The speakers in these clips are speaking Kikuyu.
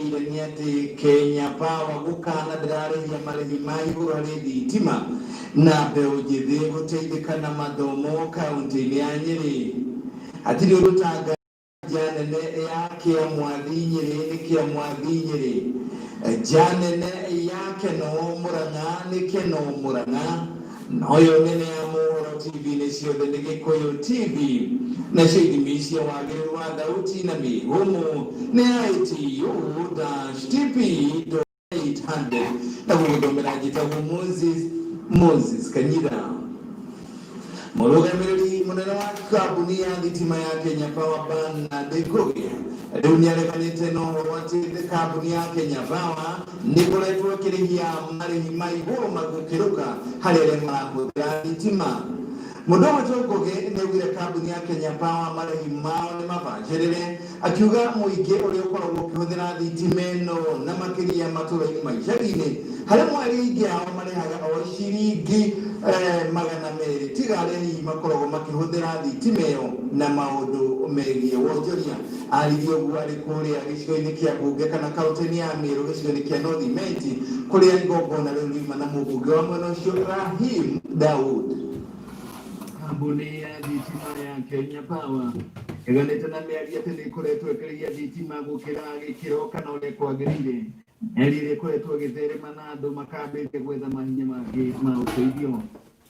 Nĩmenyithanie atĩ Kenya Power gũkana ndĩrarĩhia marĩhi ma igũrũ harĩ thitima na mbeũ njĩthĩ gũteithĩka na mathomo kaũntĩ-inĩ ya Nyĩrĩ. Hatirĩ ũndũ ta ngari nja nene ya Kĩa Mwathi Nyĩrĩ nĩ Kĩa Mwathi Nyĩrĩ, nja nene ya Keno Mũrang'a nĩ Keno Mũrang'a. Noyo nene ya Mohoro TV nĩ ciothe nĩ Gĩkũyũ TV. Nacio ithimi cia wagĩrĩru wa thauti na mĩhũmũ nĩ ya ATU-TP.800 na gũgũthomera njĩtagwo Moses Moses Kanyira. Mũrũgamĩrĩri mũnene wa kambuni ya thitima ya Kenya Power Bernard Ngũgĩ rĩu nĩareganĩte na ũhoro atĩ kambuni ya Kenya Power Nĩ ngoretwo ngĩrĩhia marĩhi ma igũrũ ma gũkĩruka harĩ arĩa marahũthĩra thitima. Mũndũ ũmwe tu Ngũgĩ nĩ augire kambuni ya Kenya Power marĩhi mao nĩ mabacĩrĩre, akiuga mũingĩ ũrĩa ũkoragwo ũkĩhũthĩra thitima ĩno na makĩria matũũra-inĩ ma icagi-inĩ, harĩ mweri aingĩ ao marĩhaga o ciringi magana merĩ, tiga arĩa hihi makoragwo makĩhũthĩra thitima ĩyo na maũndũ megiĩ wonjoria. Aaririe ũguo arĩ kũrĩa gĩcigo-inĩ kĩa mbunge kana kaũntĩ-inĩ ya Mĩrũ gĩcigo-inĩ kĩa North Imenti kũrĩa igongona rĩu riuma na mũmbunge wa mwena ũcio Rahim Daud. Kambuni ya thitima ya Kenya Power ĩganĩte na mĩario atĩ nĩ ĩkoretwo ĩkĩrĩhia thitima gũkĩra gĩkĩro kana ũrĩa kwagĩrĩire, mĩario ĩrĩa ĩkoretwo ĩgĩtherema na andũ makambĩtie gwetha mahinya mangĩ ma ũteithio.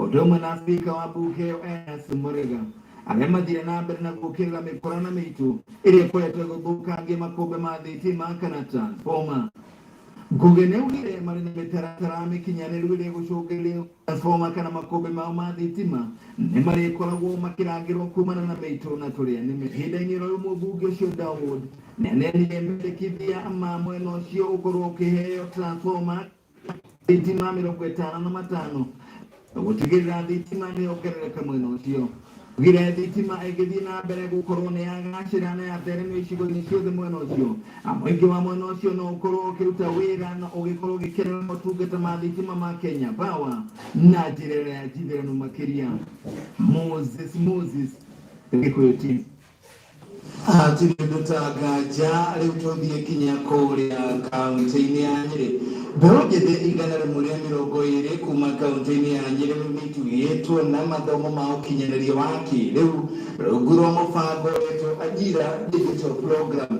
Ũndũ ũmwe na spika wa mbunge ĩyo Ernest Mũrĩga arĩa mathire na mbere na gũkĩrĩra mĩkora na mĩitũ ĩrĩa ĩkoretwo ĩgĩthũkangia makũmbĩ ma thitima kana transformer. Nguge nĩ augire marĩ na mĩtaratara mĩkinyanĩru ĩrĩa ĩgũcũngĩrĩria transformer kana makũmbĩ mao ma thitima nĩ marĩkoragwo makĩrangĩrwo kumana na mĩitũ na tũrĩa nĩme. Ihinda-inĩ oro rĩu mũmbunge ũcio Dawood nĩ aneanire mendekithia ma mwena ũcio ũkorwo ũkĩheo transformer thitima mirongo itano na matano na gutigirira thitima ni yongerereka mwena ucio gire thitima ĩngĩthiĩ na mbere gũkorwo nĩ yagacĩra na yatheremio icigo-inĩ ciothe mwena ũcio na mũingĩ wa mwena ũcio no ũkorwo ũkĩruta wĩra na ũgĩkorwo ũgĩkenera motungata ma thitima ma Kenya Power na njĩra ĩrĩa ya njithĩranu makĩria Moses Moses Gĩkũyũ TV Atirĩndũ ta nganja rĩu tũthiĩ kinya kũrĩa kaunti-inĩ ya Nyĩrĩ. Mbeũ njĩthĩ igana rĩmwe rĩa mĩrongo ĩrĩ kuma kaunti-inĩ ya Nyĩrĩ rĩu nĩitugĩtwo na mathomo ma ũkinyanĩria wa kĩrĩu rungu rwa mũbango wetwo Ajira Digital Program.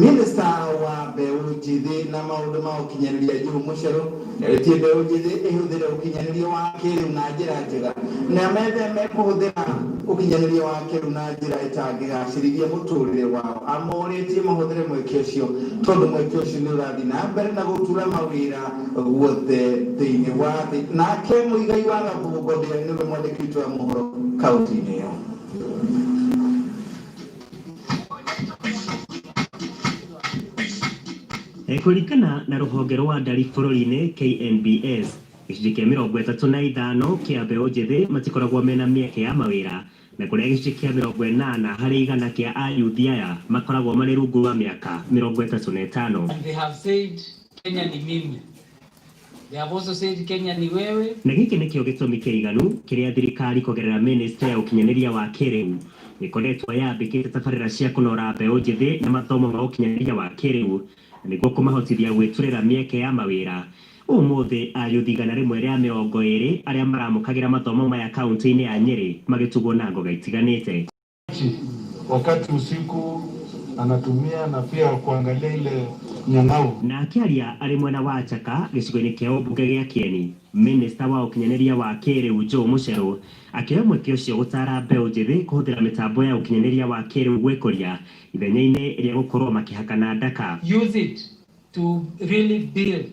Mĩnĩsta wa mbeũ njĩthĩ na maũndũ ma ũkinyanĩria Joe Mũcheru Na ĩtie mbeũ njĩthĩ ĩhũthĩre ũkinyanĩria wa kĩĩrĩu na njĩra njega na metheme kũhũthĩra ũkinyanĩria wa kĩĩrĩu na njĩra ĩtangĩgacĩrithia mũtũũrĩre wao. Amorĩtie mahũthĩre mweke ũcio tondũ mweke ũcio nĩ ũrathiĩ na mbere na gũtura mawĩra guothe thĩinĩ wa thĩ. Nake Muigai wa Gathugu Godea nĩwe mwandĩki witũ wa mohoro kaũntĩ-inĩ ĩyo. E, Kũringana na rũhonge rwa ndari bũrũri-inĩ KNBS, gĩcunjĩ kĩa mĩrongo ĩtatũ na ithano kĩa mbeũ njĩthĩ matikoragwo mena mĩeke ya mawĩra na kũrĩa gĩcunjĩ kĩa mĩrongo ĩnana harĩ igana kĩa ayuthi aya makoragwo marĩ rungu rwa mĩaka mĩrongo ĩtatũ na ĩtano. And they have said Kenya ni mimi. They have also said Kenya ni wewe. Na gĩkĩ nĩkĩo gĩtũmi kĩiganu kĩrĩa thirikari kũgerera Mĩnĩstrĩ ya Ũkinyanĩria wa Kĩrĩu ĩkoretwo yambĩkĩte tabarĩra cia kũnora mbeũ njĩthĩ na mathomo ma ũkinyanĩria wa kĩrĩu nĩguo kũmahotithia gwĩturĩra mĩeke ya mawĩra. Ũmũthĩ ayuthi igana rĩmwe rĩa mĩrongo ĩrĩ arĩa maramũkagĩra mathomo maya kauntĩ-inĩ ya Nyeri magĩtugwo na ngoga itiganĩte. wakati usiku anatumia na pia kuangalia ile nyang'au. Na akĩaria arĩ mwena wa Chaka gĩcigo-inĩ kĩa ũmbunge gĩa Kĩeni, mĩnĩsta wa ũkinyanĩria wa kĩĩrĩu Joe Mũcherũ akĩoya mweke ũcio gũtaara mbeũ njĩthĩ kũhũthĩra mĩtambo ya ũkinyanĩria wa kĩĩrĩu gwĩkũria ithenya-inĩ rĩa gũkorwo makĩhakana ndaka. Use it to really build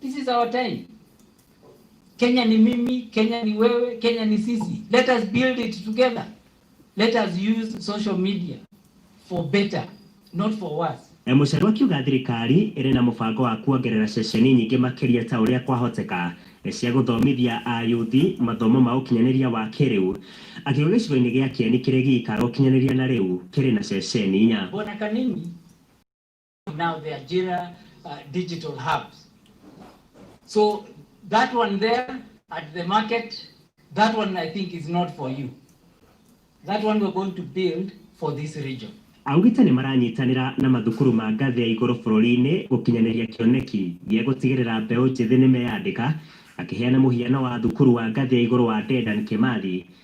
This is our time. Kenya ni mimi, Kenya ni wewe, Kenya ni sisi. Let us build it together. Let us use social media for better, not for worse. E, Mũcheru akiuga thirikari ĩrĩ na mũbango wa kuongerera ceceni nyingĩ makĩria ta ũrĩa kwahoteka e, cia gũthomithia ayuthi mathomo ma ũkinyanĩria wa kĩrĩu akiuga gĩcigo-inĩ gĩa Kĩeni kĩrĩ gĩikaro ũkinyanĩria na rĩu kĩrĩ na ceceni inya. Bwana Kanini now the Ajira uh, digital hubs. So that one there at the market, that one I think is not for you. That one we're going to build for this region. augite nĩ maranyitanĩra na mathukuru ma ngathĩ ya igũrũ bũrũri-inĩ gũkinyanĩria kĩoneki gĩa gũtigĩrĩra mbeũ njĩthĩ nĩ meyandĩka akĩheana mũhiano wa thukuru wa ngathĩ ya igũrũ wa Dedan Kimathi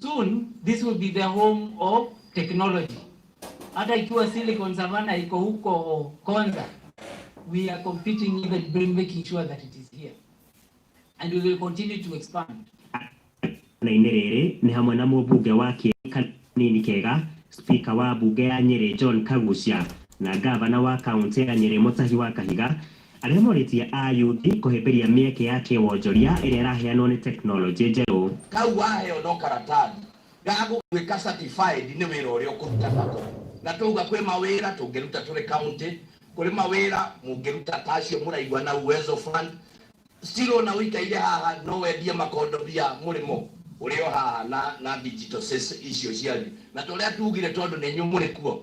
Soon this will be the home of technology. Hata ikiwa Silicon Savannah iko huko Konza, we are competing even bring making sure that it is here and we will continue to expand. na inĩ rĩrĩ nĩ hamwe na mũmbunge wa kĩrĩ kanini kega spika wa mbunge ya nyĩrĩ john kagucia na ngavana wa kaunti ya nyĩrĩ mũtahi wa kahiga Arĩa morĩtie Ayuthi kũhĩmbĩria mĩeke ya kĩwonjoria ĩrĩa ĩraheanwo nĩ tekinoronjĩ njerũ. Kau waheo no karatathi ga gũgũĩka certified nĩ wĩra ũrĩa ũkũruta nako. Na twauga kwĩ mawĩra tũngĩruta tũrĩ county, kũrĩ mawĩra mũngĩruta ta acio mũraigua na Uwezo Fund, still o na ũikaire haha no wendie makondobia mũrĩmo ũrĩ o haha na na digital icio cianyu. Na ta ũrĩa tugire tondũ nĩ inyuĩ mũrĩ kuo,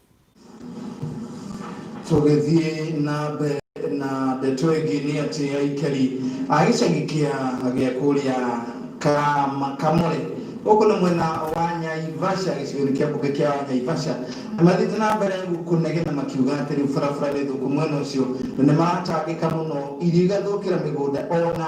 tũgĩthiĩ na mbere na ndeto ĩngĩ nĩ atĩ aikari a gĩcagi kĩa gĩa kũrĩa Kama- kamore gũkũ nĩ mwena wa nyaivasha gĩcigo-inĩ kĩa mbunge kĩa nyaivasha nĩ mathiĩte na mbere kũnegena makiuga atĩ rĩu barabara nĩ thũku mwena ũcio na nĩ maratangĩka mũno irio igathũkĩra mĩgũnda ona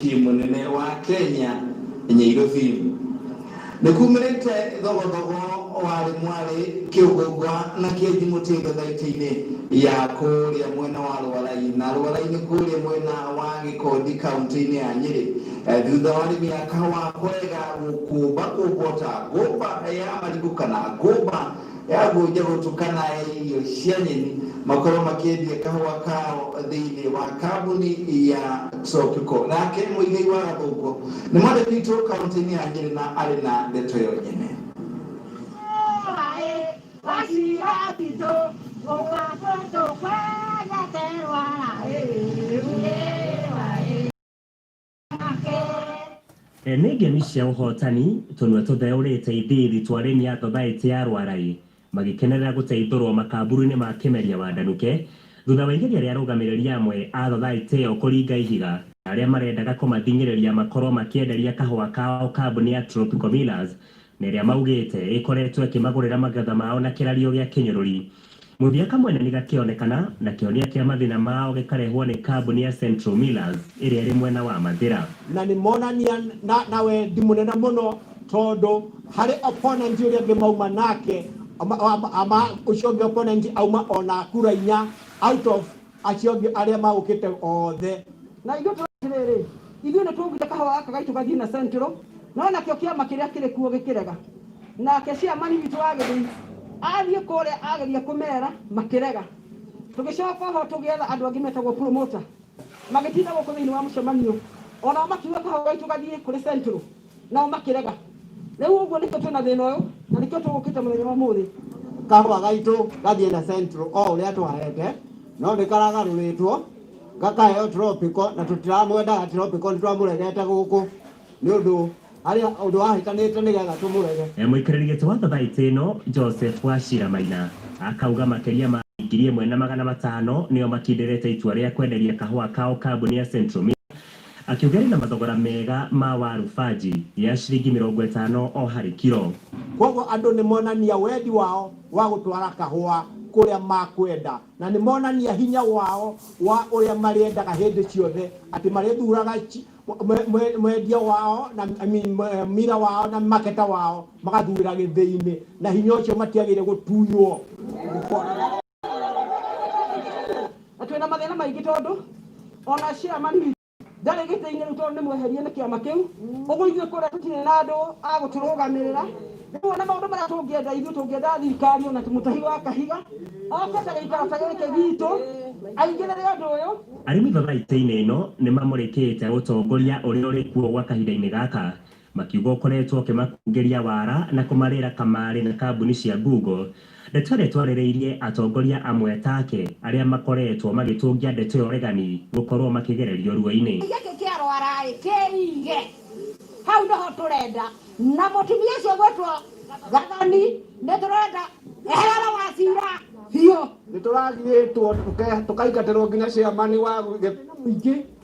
Ti mũnene wa Kenya Nyairobi nĩkumĩrĩte thogothogo warĩ mwarĩ Kĩũgũngwa na Kĩenji Mũtinda thaitĩ-inĩ ya kũrĩa mwena wa Rũarai na Rũarai nĩ kũrĩa mwena wa Gĩkondi kauntĩ-inĩ ya Nyĩrĩ thutha wa arĩmi a kahũa kũrega gũkũmba kũmbwo ta ngũmba ya marigũ kana ngũmba yambunja gũtukana ya irio cia nyeni makorwo makĩendia kahũa kao thĩinĩ wa kambuni ya Xopico. Nake Mũigai wa Gathũngũ nĩ mwandĩki witũ kaunti-inĩ ya Nyĩrĩ na arĩ na ndeto ĩyo nyene. E, nĩ ngemi cia ũhotani tũnua tũtheũrĩte ithiithi twa arĩmi a thothaĩtĩ ya Rwarai magĩkenerera gũteithũrwo makamburu-inĩ ma Kĩmeria wa Ndanuke thutha wa igeria rĩa arũgamĩrĩri amwe a thothaĩtĩ ĩyo kũringa ihiga na arĩa marendaga kũmathing'ĩrĩria makorwo makĩenderia kahũa kao kambuni ya Tropical Millers na ĩrĩa maugĩte ĩkoretwo ĩkĩmagũrĩra magetha mao na kĩrario gĩa kĩnyũrũri. Mũthia kamwena nĩgakĩonekana, na kĩonia kĩa mathĩna mao gĩkarehwo nĩ kambuni ya Central Millers ĩrĩa ĩrĩ mwena wa Mathĩra. Na nĩ monania na, na wendi mũnene mũno tondũ harĩ opponent ũrĩa ũngĩ mauma nake, ama, ama, ama ũcio ũngĩ opponent auma ona kura inya out of acio angĩ arĩa magũkĩte othe. Na ithuĩ tũrĩ atĩrĩrĩ, ithuĩ nĩtũũgire kahũa gaka gaitũ gathiĩ na Central, no nakĩo kĩama kĩrĩa kĩrĩ kuo gĩkĩrega. Nake ciamani witũ wa gĩthii athiĩ kũrĩa ageria kũmera, makĩrega. Tũgĩcoka oho tũgĩetha andũ angĩ metagwo promoter, magĩtinda gũkũ thĩinĩ wa mũcemanio, o nao makiuga kahũa gaitũ gathiĩ kũrĩ Central. Nao makĩrega. Rĩu ũguo nĩkĩo twĩna thĩna ũyũ na nĩkĩo tũgũkĩte mũthenya wa ũmũthĩ. Kahũa gaitũ gathiĩ na central o ũrĩa tũhaete no nĩ karagarũrĩtwo gakaheo tropical na tũtiramwendaga tropical nĩ twamũregete gũkũ nĩ ũndũ harĩa ũndũ wahĩtanĩte nĩ getha tũmũrege. Mũikarĩri gĩtĩ wa thathaitĩ ĩno Joseph Wachira Maina akauga makĩria ma andũ ngiri ĩmwe na magana matano nĩo makindĩrĩte itua rĩa kwenderia kahũa kao kambuni ya Central Mill Akiuga rĩna mathogora mega ma waru banji ya ciringi mĩrongo ĩtano o harĩ kiro. Kwoguo andũ nĩ monania wendi wao wa gũtwara kahũa kũrĩa makwenda na nĩ monania hinya wao wa ũrĩa marĩendaga hĩndĩ ciothe atĩ marĩthuraga mwendia wao na mira wao na maketa wao magathurĩra gĩthĩinĩ na hinya ũcio matiagĩrĩire gũtunywo. na twĩna mathĩna maingĩ tondũ ona chairman witũ ndarĩ gĩtĩ-inĩ rĩu tondũ nĩ mweherie nĩ kĩama kĩu ũguo ithuĩ kũrĩa tũtirĩ na andũ a gũtũrũgamĩrĩra rĩu ona maũndũ marĩa tũngĩenda ithuĩ tũngĩenda thirikari ona mũtahi wa kahiga oke ta gĩikaro ta gĩkĩ gitũ aingĩrĩre ũndũ ũyũ Arĩmi baba itĩ-inĩ ĩno nĩ mamũrĩkĩte ũtongoria ũrĩa ũrĩ kuo gwa kahinda-inĩ gaka Makiuga ũkoretwo ũkĩmakũngĩria wara na kũmarĩĩra kamarĩ na kambuni cia Google. Ndeto ĩrĩa twarĩrĩirie atongoria amwe take arĩa makoretwo magĩtũngia ndeto ĩyo regani gũkorwo makĩgererio ruo-inĩ. Gĩkĩ kĩa rwara-ĩ, kĩige hau nĩho tũrenda. Na mũtumia ũcio ũgwĩtwo Gathoni nĩtũrenda eherere Wachira biũ. Nĩtũragirĩtwo tũkaingatĩrwo nginya Chairman wa gĩkundi kĩnene mũingĩ.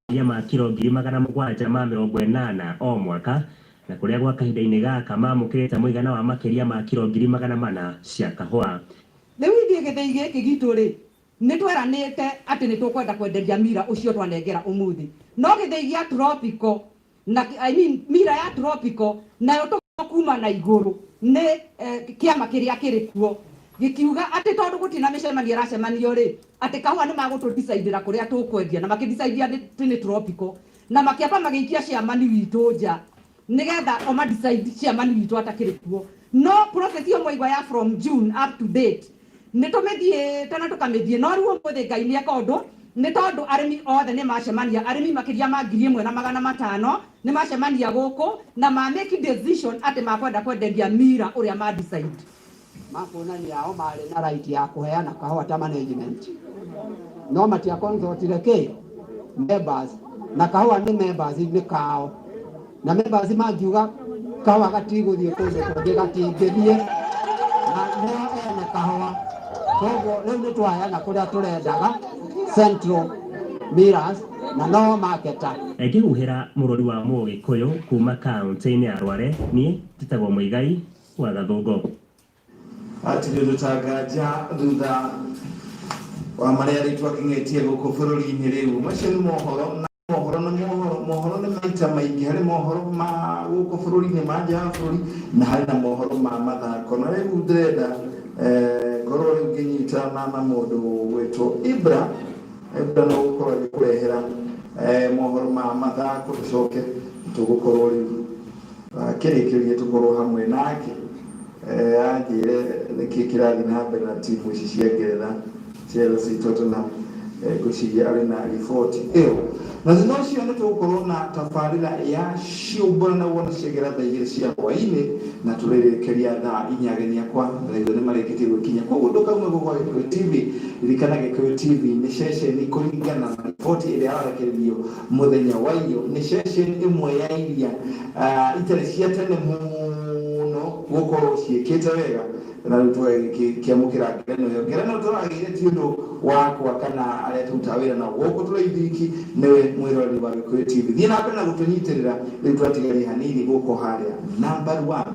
makĩria ma kiro ngiri magana mũgwanja ma mĩrongo ĩnana o mwaka, na kũrĩa gwa kahinda-inĩ gaka mamũkĩrĩte mũigana wa makĩria ma kiro ngiri magana mana cia kahũa. Rĩu ithuĩ gĩthĩi gĩkĩ gitũ-rĩ, nĩ tweranĩte atĩ nĩ tũkwenda kwenderia Mira ũcio twanengera ũmũthĩ, no gĩthĩi gĩa Tropico na I mean mira ya tropical nayo tũgĩtwo kuma na igũrũ nĩ eh, kĩama kĩrĩa kĩrĩ kuo gĩkiuga atĩ tondũ gũtirĩ na mĩcemanio ĩracemanio rĩ atĩ kahũa nĩ magũtũdicaindĩra kũrĩa tũkwendia na makĩdicaindia atĩ nĩ tropical na makĩamba magĩikia ciamani witũ nja nĩgetha omadicaindi ciamani witũ atakĩrĩ kuo no process ĩyo mwaigua ya from june up to date Nĩ tũmĩthiĩte na tũkamĩthiĩ, no rĩu ũmũthĩ Ngai nĩ eka ũndũ, nĩ tondũ arĩmi othe nĩ macemania, arĩmi makĩria ma ngiri ĩmwe na magana matano nĩ macemania gũkũ na ma make decision atĩ makwenda kwenderia Mira ũrĩa ma decide. Makuona nĩ ao marĩ na right ya kũheana kahũa ta management, no matia consult-ire kĩ? Members. Na kahũa nĩ members, nĩ kao. Na members makiuga kawa gatigũthiĩ kũndũ kũngĩ gatingĩthiĩ na nĩo ene kahũa koguo rĩu nĩ twayana kũrĩa tũrendaga central miras na no maketa Ngĩhuhĩra mũrũri wa Mũgĩkũyũ kuuma kaũntĩ-inĩ ya Rware, niĩ njĩtagwo Mũigai wa Gathũngũ. Hatirĩ gũtanganja thutha wa marĩa rĩu twakĩng'etie gũkũ bũrũri-inĩ rĩu. Macio nĩ mohoro na mohoro nĩ mohoro mohoro nĩ maita maingĩ harĩ mohoro ma gũkũ bũrũri-inĩ ma nja ya bũrũri na harĩ na mohoro ma mathako na rĩu ndĩrenda eh, ngorwo rĩu ngĩnyitana na mũndũ wĩtwo ibra ibra no gũkorwo agĩkũrehera eh, mohoro ma mathako tũcoke tũgũkorwo rĩu akĩrĩkĩrie tũkorwo hamwe nake Anjĩre nĩkĩ kĩrathiĩ na mbere na timu ici cia Ngeretha, Chelsea, Tottenham, ngwĩciria arĩ na riboti ĩyo. Na thutha ũcio nĩ tũgũkorwo na tabarĩra ya ciũmbũra na wona ciagera thaa igĩrĩ cia hwaĩ-inĩ na tũrĩrĩkĩria thaa inya ageni akwa thaitho nĩ marĩkĩtie gwĩkinya. Koguo ndũkaume gũkũ gwa Gĩkũyũ TV, ririkana Gĩkũyũ TV nĩ ceceni kũringana na riboti ĩrĩa ĩrarekererio. Mũthenya wa iyo nĩ ceceni ĩmwe ya iria itarĩ cia tene mũno gũkorwo ciĩkĩte wega na rĩu tũgĩkĩamũkĩra ngerenwa ĩyo. Ngerenwa tũragĩire ti ũndũ wakwa kana arĩa tũrutaga wĩra nao gũkũ tũraithi wiki, nĩwe mwĩroreri wa Gĩkũyũ TV. Thiĩ na mbere na gũtũnyitĩrĩra, rĩu twatigaire hanini gũkũ harĩa number one.